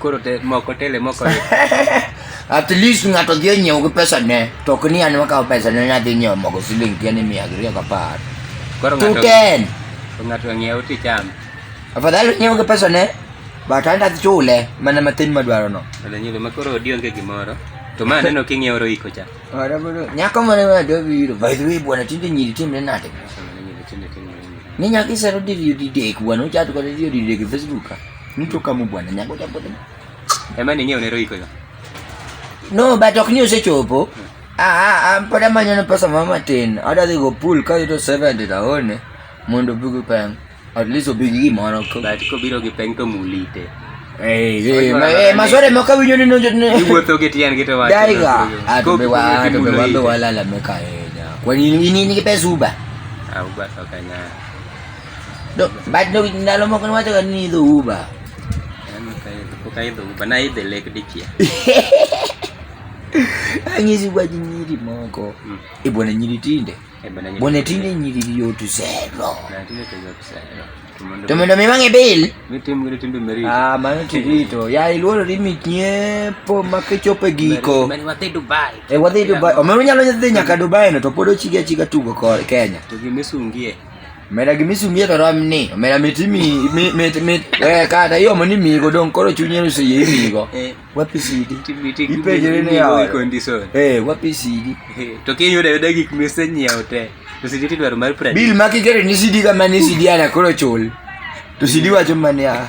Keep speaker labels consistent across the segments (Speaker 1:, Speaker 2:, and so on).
Speaker 1: Koro
Speaker 2: te moko tele moko.
Speaker 1: At least ng'ato dhi onyiew gi pesa ne, to ok ni an makawo pesa ne nadhi nyiewo mogo siling piero ni mia abiriyo gapar. Koro Two
Speaker 2: ng'ato ten. ng'ato ng'iew ticham. Afadhali onyiew
Speaker 1: gi pesa ne, but an adhi chule mana matin madwaro no. Wala nyulo ma koro odi
Speaker 2: onge gimoro. To ma aneno king'iew roiko cha. Ora bro, nyako
Speaker 1: mane ma dwa biro. By the way, bwana tinde nyiri timre nade? Sama ne nyulo tinde tinde. Ni nyako isero diriyo didek, bwana uchat kode diriyo didek e Facebook ka. Mtu kama bwana nyango jambo. Emani nyewe
Speaker 2: unero iko hiyo. No,
Speaker 1: but ok ni osechopo. Hmm. Ah, ah, ah, pod amanyo pesa moro matin. Adwa dhi go pool ka yudo 70 taone mondo obi gi peng. At least obi gi gimoro. But kobiro gi peng to
Speaker 2: mulite. Eh, eh, eh masore
Speaker 1: moko winjo ni nonjo ni. Iwuotho gi tiyan gi to
Speaker 2: wacho. Daiga. Ato be
Speaker 1: wa, ato be wa be wala la meka. Kwa nini nini pesa uba? Ah, uba
Speaker 2: sokanya.
Speaker 1: Do, bad no ndalo moko niwacho ga ni idho Uber. Yaani kaidho,
Speaker 2: pok aidho Uber, naidhe lek dichia.
Speaker 1: Anyisi kwa nyiri moko. Mm. E bwana nyiri tinde. E bwana nyiri. Bwana tinde nyiri yot zero. Na tinde to yot
Speaker 2: zero. To mondo mi wang'e bil.
Speaker 1: Mi tim giri timbe
Speaker 2: merito. Ah, mano tirito.
Speaker 1: Ya iluoro ni mi nyiepo ma kichope giko. Mani wadhi
Speaker 2: Dubai. E wadhi Dubai. Omeru
Speaker 1: nyalo dhi nyaka Dubai no to pod ochigi achiga tugo Kenya. To gi misungie.
Speaker 2: Omera gima
Speaker 1: isumie to rom ni. Omera mit imi mit mit eh kata yo mani migo dong koro chunye no seye imigo. Eh. Wapi sidi? Ipenjere ne ya. Condition. Eh, wapi
Speaker 2: sidi?
Speaker 1: Eh, to ke yudo yudo
Speaker 2: gik mise nyiewo te. To sidi ti dwaro mar pradi. Bill makigere ni sidi
Speaker 1: kama ni sidi ana koro chul. To sidi wacho mania.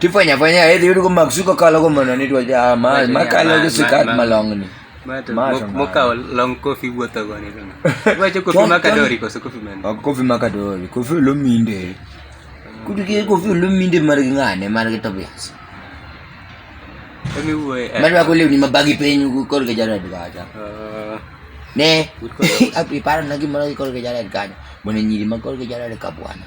Speaker 1: tifanya fanya hedhi yudo mak suko kalo ko mondo ni twa ja ma ma kalo ko sikat malongni mokawo long kofi wuotho go ni wacho kofi makadori koso kofi mane kofi makadori kofi olominde kudu ke kofi olominde mar gi ng'ane mar gi tobias
Speaker 2: marwako lewni mabagi
Speaker 1: piny kor gi jared kacha ne aparo na gimoro gi kor gi jared kanyo mondo nyiri ma kor gi jared kabwana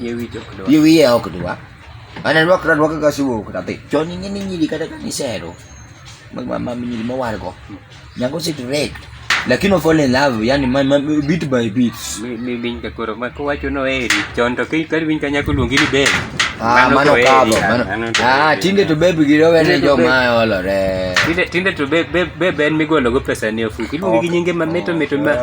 Speaker 1: Yie wiye ok dwa. Yie wiye ok dwa. Ana rwak rwak ka siwo kata pe. Chon ni ngini nyiri kata ka ni sero. Mag ma ma nyiri ma wargo. Nyango sit rek. Lakini fall in love yani ma, ma, bit by bit. Mi mi bin ka koro
Speaker 2: ma ko wacho no eri. Chon to kai kar bin ka nyako luongi ni be. Ah, mano
Speaker 1: kabo. Mano. Ah, tinde to baby giro wene jo ma olore. Tinde tinde to
Speaker 2: be be be ben migolo go pesa ni ofuki. Iluongi gi nyinge ma mito mito ma.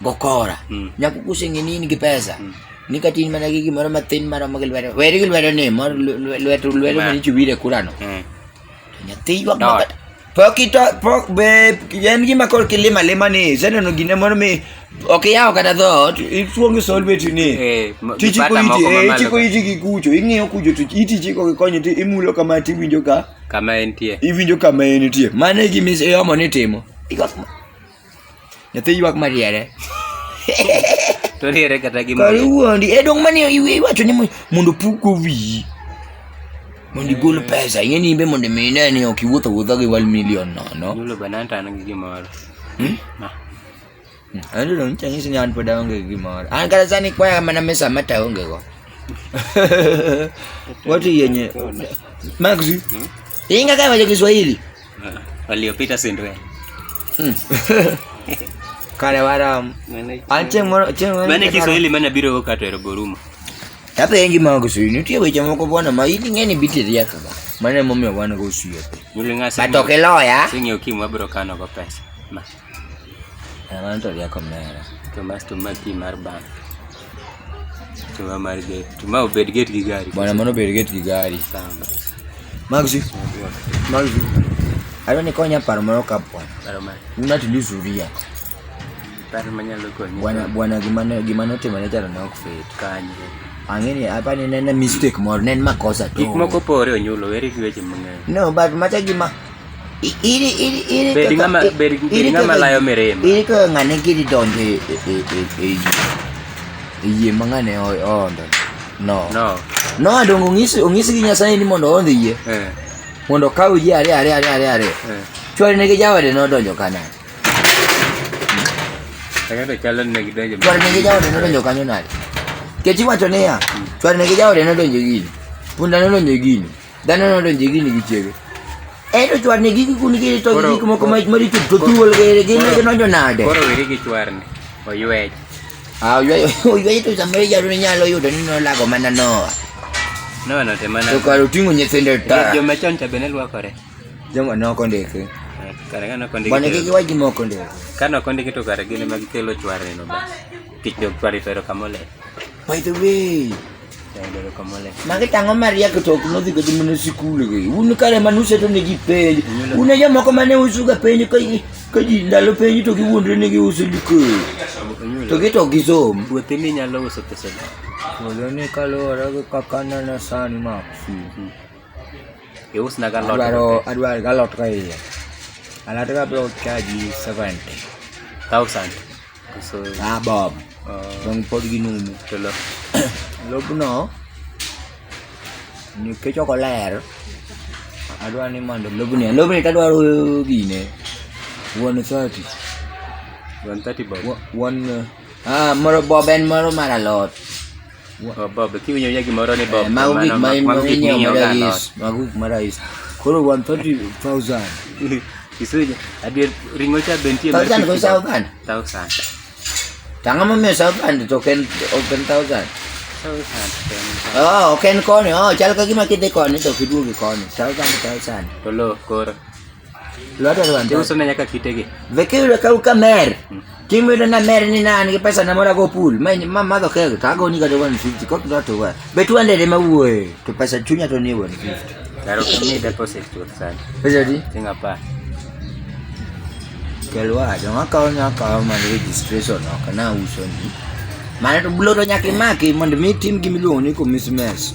Speaker 1: gokora mm. nyako kuseng'e ni in gi pesa mm. ni ka tin mana gi gimoro mathin maromo gi lwedo weri gi lwedo ni mor lwedo lwedo mani chiwire kurano mm. to nyathi ywak makat pok ito pok be en gima kor kilima lima ni iseneno gine moro mi ok iyawo kata dhoot ituongo solbeti ni eh, tichiko iti eh, ichiko iti gi kucho ing'iyo kucho to iti chiko gi konyo ti imulo kama ti iwinjo ka kama entie
Speaker 2: iwinjo kama entie
Speaker 1: mano e gima iomo ni timo Nyathi ywak mariere.
Speaker 2: Toriere kata gi
Speaker 1: mari. Kawuondi, e
Speaker 2: dong mani
Speaker 1: iwacho ni
Speaker 2: mondo
Speaker 1: pugo wiyi. Mondo igol pesa, ing'e ni imbe mondo imi ine ni ok iwuotho wuotho gi one million nono. Yulo bananta an gi
Speaker 2: gimoro. Hmm? Ah.
Speaker 1: Hmm. Ayudo dong chanyisi ni an pod aonge gi gimoro. An kata sani kwaya mana mesa mata aonge go. Watu yenye. Maxi. Hmm? Inga kama cha Kiswahili. waliopita
Speaker 2: sindwe hmm.
Speaker 1: kare waram an chieng' moro chieng' moro mane Kiswahili mane
Speaker 2: biro go kato ero gorumo Tata yengi
Speaker 1: ma ko suyu nitie weche moko bwana ma ili ng'eni biti riek ga mane momiyo wan go suyu. But ok
Speaker 2: iloya. Sing'e
Speaker 1: okim wabiro
Speaker 2: kano go pesa.
Speaker 1: Mano to rieko mera. To mas to ma pi
Speaker 2: mar bank. To ma mar get. To ma obed get gi gari. Bwana mano obed get gi
Speaker 1: gari. Sawa. Magzi. Magzi. Adwa ni konya paro moro ka bwana. Paro mane? Nuna to
Speaker 2: lose uria. Paro manyalo konyi. Bwana bwana gima ne gima
Speaker 1: notimore jalo ne ok fit. Kanye.
Speaker 2: Ang'eni apa
Speaker 1: ni nene mistake moro, ne en makosa to. Gik moko pore
Speaker 2: onyulo, weri gi weche mang'eny. No, but macha gima
Speaker 1: Ili ili ili Bedi ngama
Speaker 2: bedi bedi ngama layo mirima. Ili ko ngane gidi
Speaker 1: donjo e e e e. E yie mangane o ondo. No. No. No adongo ongisi ongisi gi Nyasaye ni mondo ondo yie. Eh. Mondo kaw yie are are are are are. Eh. Chwari ne gi jawade no donjo kana. Tagado chalo
Speaker 2: ne gi donjo. Chwari ne gi jawade no donjo
Speaker 1: kanyo nade. Kechi wacho niya, hmm. chwari ne gi jawade no donjo gini. Punda no donjo gini. Dhano nodonjo gini gi chiege. Ero chwarni gi kikuni gi to gik moko maricho to thuol gi gin ne nonjo nade. Koro wiri gi chwarni
Speaker 2: oywej. Ah oywej
Speaker 1: oywej to samere jaro ne nyalo yudo ni nolago mana Noah. Noah no
Speaker 2: te mana. To karo tingo nyithinde
Speaker 1: ta. Jo machon cha bene lwakore.
Speaker 2: Joma noko
Speaker 1: ndeke. Kare kano kondiki.
Speaker 2: Bwana gigi waji moko ndeke.
Speaker 1: Kano kondiki to kare
Speaker 2: gin ema gikelo chwarni no ba. Tich jog chwarni to ero kamole. By the
Speaker 1: way,
Speaker 2: magi tang'o mariek
Speaker 1: to ok nodhi kata mana sikul gi un kare mane useto ne ji penj un jomoko mane usuga penj ka ji ndalo penj to giwuondre ni giuso likoro to gi to gisom puothi minyalo uso
Speaker 2: pesa puodho ni
Speaker 1: kaluwore gi kaka nene sani maksi
Speaker 2: iusna galot adwar galot ka
Speaker 1: iye alot ka biro chaji 70 thousand Koso Ah, Bob. ah, Dong pod ginumu. telo.
Speaker 2: Lobno
Speaker 1: nikech ok oler, adwa ni mondo lobni, lobni to adwaro gine. One thirty. 130 bob. Wa- One, ah, moro Bob en moro mar alot.
Speaker 2: Bob, ki winyo yagi moro ni Bob. Mago gik ma ma winyo mara is,
Speaker 1: mago gik mara is. Koro 130,000.
Speaker 2: Isuja, adier ringo cha bentie mar 1000 go South Band. 1000. Tanga
Speaker 1: mo me South Band to ken open
Speaker 2: 1000. Oh, ken
Speaker 1: koni, oh, chal ka gima kidhi koni to kiduogi koni. 1000 1000. To lo koro.
Speaker 2: Lwata
Speaker 1: Rwanda. Ndio usone yaka kitege.
Speaker 2: Vekiro ka uka
Speaker 1: mer. Hmm. Timu ile na mer ni nani pesa na mora go pool. Mimi mama do kego tago ni gado 150 kwa ndo to wa. Betu ande le mauwe. To pesa chunya to ni 150. Karo kini deposit
Speaker 2: tu sana. Pesa di? Tinga
Speaker 1: pa. Kelwa jo ngaka nya ka ma registration no kana uso ni. Mane to bulo to nyaka imaki mondo mi tim gimiluongo ni commissioners.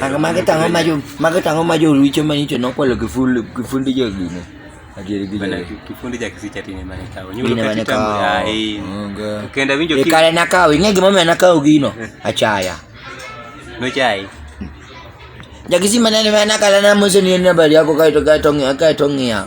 Speaker 2: Ang makita ngo mayo,
Speaker 1: makita ngo mayo richo ma nicho nokwalo kifundi kifundi jo gine. Adieri gi bana
Speaker 2: kifundi ja kisi chati ne mane kawo. Nyulo ka kitambo ya eh. Kenda winjo ki. Ikale na kawo, ing'e
Speaker 1: gima mena kawo gino. Achaya. No
Speaker 2: chai.
Speaker 1: Jakisi manene mena kala na mose ni nabari yako kaito kaito kaito ngia.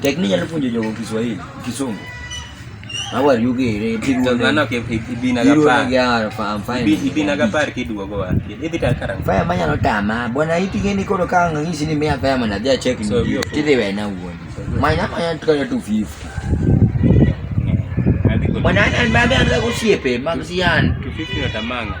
Speaker 1: Tekni nyalo puonjo jogo Kiswahili, Kisungu. How are you gere? Tangana ke
Speaker 2: ibina ga par. Ya, I'm fine.
Speaker 1: Ibina ga par ki
Speaker 2: duogo wa. Ibi tar karang. Faya manya no tama.
Speaker 1: Bona iti geni kono kanga ngisi ni mea faya mana dia check ni. Tide we na uoni. Manya manya tukana 250. Mwana ana mbabe anza kusiepe, magzian. 250 na tamanga.